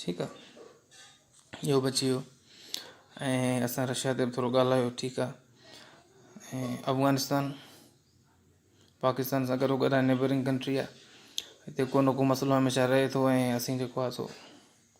ٺيڪ آ اهو به اچي ويو ۽ اسان رشيا تي به ٿورو ڳالهايو ٺيڪ آ ۽ افغانستان پاڪستان سان گهرو گهران نيبرنگ ڪنٽري آ هتي ڪو نه ڪو مسئلو هميشه رهي ٿو ۽ اسين جيڪو آ سو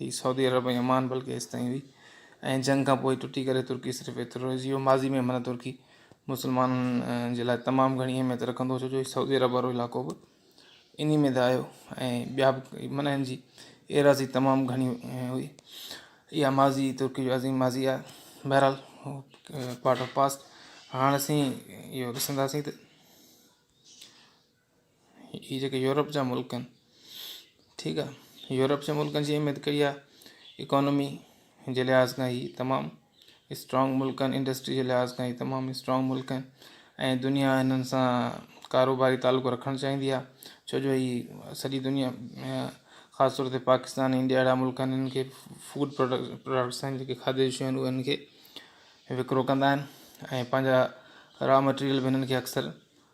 هي سعودي عرب ۽ عمان بلڪه ايستائين هئي ۽ جنگ کان پوء ٽٽي ڪري ترڪي صرف ايترو رهجي ويو ماضي ۾ معنيٰ ترڪي مسلمانن جي لاء تمام گهڻي اهميت رکندو هو ڇو جو هي سعودي عرب وارو علائقو به انهي ۾ ته آيو ۽ ٻيا به معنيٰ هن جي ايراضي تمام گهڻي هئي اها ماضي ترڪي جو عظيم ماضي آهي بهرحال پارٽ آف پاسٽ هاڻ اسين اهو ڏسنداسين ته هي جيڪي يورپ جا ملڪ آهن ٺيڪ آ يورپ جي ملڪن جي اهميت ڪئي آ اڪانومي جي لحاظ کان هي تمام اسٽرانگ ملڪ آهن انڊسٽري جي لحاظ کان هي تمام اسٽرانگ ملڪ آهن ۽ دنيا هنن سان ڪاروباري تعلق رکڻ چاهيندي آ ڇو جو هي سڄي دنيا خاص طور تي پاڪستان انڊيا اهڙا ملڪ آهن هنن کي فوڊ پروڊڪ پروڊڪٽس آهن جيڪي کاڌي جون شيون هنن کي وڪرو ڪندا آهن ۽ پنهنجا را مٽيريل به هنن کي اڪثر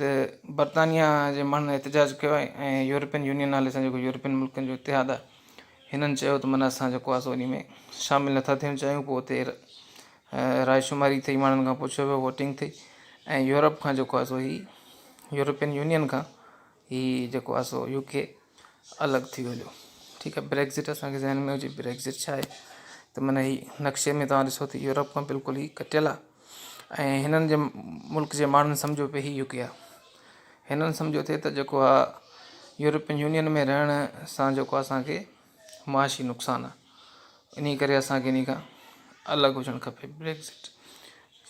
ته برطانيا جي ماڻهن احتجاج ڪيو آهي ۽ يورپين يونين نالي سان جيڪو يورپين ملڪن جو اتحاد آهي هنن چيو ته من اسان جيڪو آهي سو انهي ۾ شامل نٿا ٿيڻ چاهيون پوء اتي راء شماري ٿئي ماڻهن کان پڇيو ويو ووٽنگ ٿئي ۽ يورپ کان جيڪو آهي سو هي يورپين يونين کان هي جيڪو آهي سو يو ڪي الڳ ٿي وڃو ٺيڪ آهي بريڪزٽ اسانکي ذهن ۾ هجي بريڪزٽ ڇا آهي ته من هي نقشي ۾ تواهان ڏسو ته يورپ کان بلڪل هي ڪٽيل آهي ۽ هنن جي ملڪ جي ماڻهن سمجهيو پي هي يوڪي آ هنن سمجهيو ٿي ته جيڪو آ يورپين يونين ۾ رهڻ سان جيڪو اسان کي معاشي نقصان آ انهي ڪري اسان کي انهي کان الڳ هجڻ کپي بريڪزٽ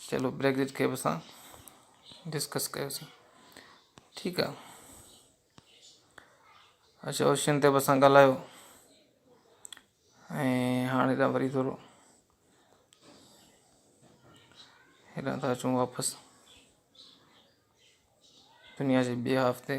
چلو بريڪزٽ کي به اسان ڊسڪس ڪيوسين ٺيڪ آ اچو اوشين طيب سان ڳالهايو ۽ هاڻي ته وري ٿورو هيڏانهن ٿا اچون واپس دنيا جي ٻئي هاف تي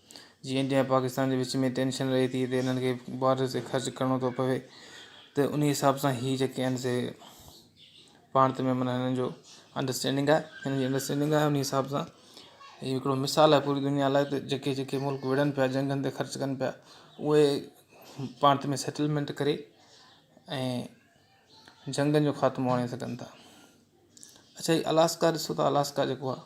جي انڊيا ۽ پاڪستان جي وچ ۾ ٽينشن رهي ٿي تي انهن کي بارڊرز تي خرچ ڪرڻو ٿو پوي ته انهي حساب سان هي جيڪي آهن سي پاڻت ۾ معنيٰ هنن جو انڊرسٽينڊنگ آهي هنن جي انڊرسٽينڊنگ آهي انهي حساب سان هي هڪڙو مثال آهي پوري دنيا لاء ته جيڪي جيڪي ملڪ وڙهن پيا جنگن تي خرچ ڪن پيا اهي پاڻت ۾ سيٽلمينٽ ڪري ۽ جنگن جو خاتمو آڻي سگهن ٿا اچا هي الاسڪا ڏسو ته الاسڪا جيڪو آهي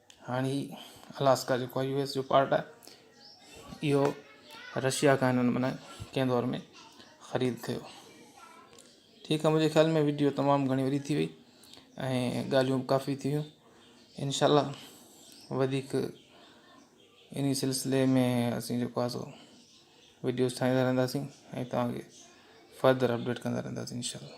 هاڻ هي الاسڪا جيڪو آهي يو ايس جو پارٽ آهي اهو رشيا کان هنن معنيٰ ڪنهن دور ۾ خريد ڪيو ٺيڪ آهي منهنجي خيال ۾ ويڊيو تمام گهڻي وڏي ٿي وئي ۽ ڳالهيون به ڪافي ٿي ويون انشاء الله وڌيڪ انهي سلسلي ۾ اسين جيڪو آهي سو ويڊيوز ٺاهيندا رهنداسين ۽ تهانکي فردر اپڊيٽ ڪندا رهنداسين انشاء الله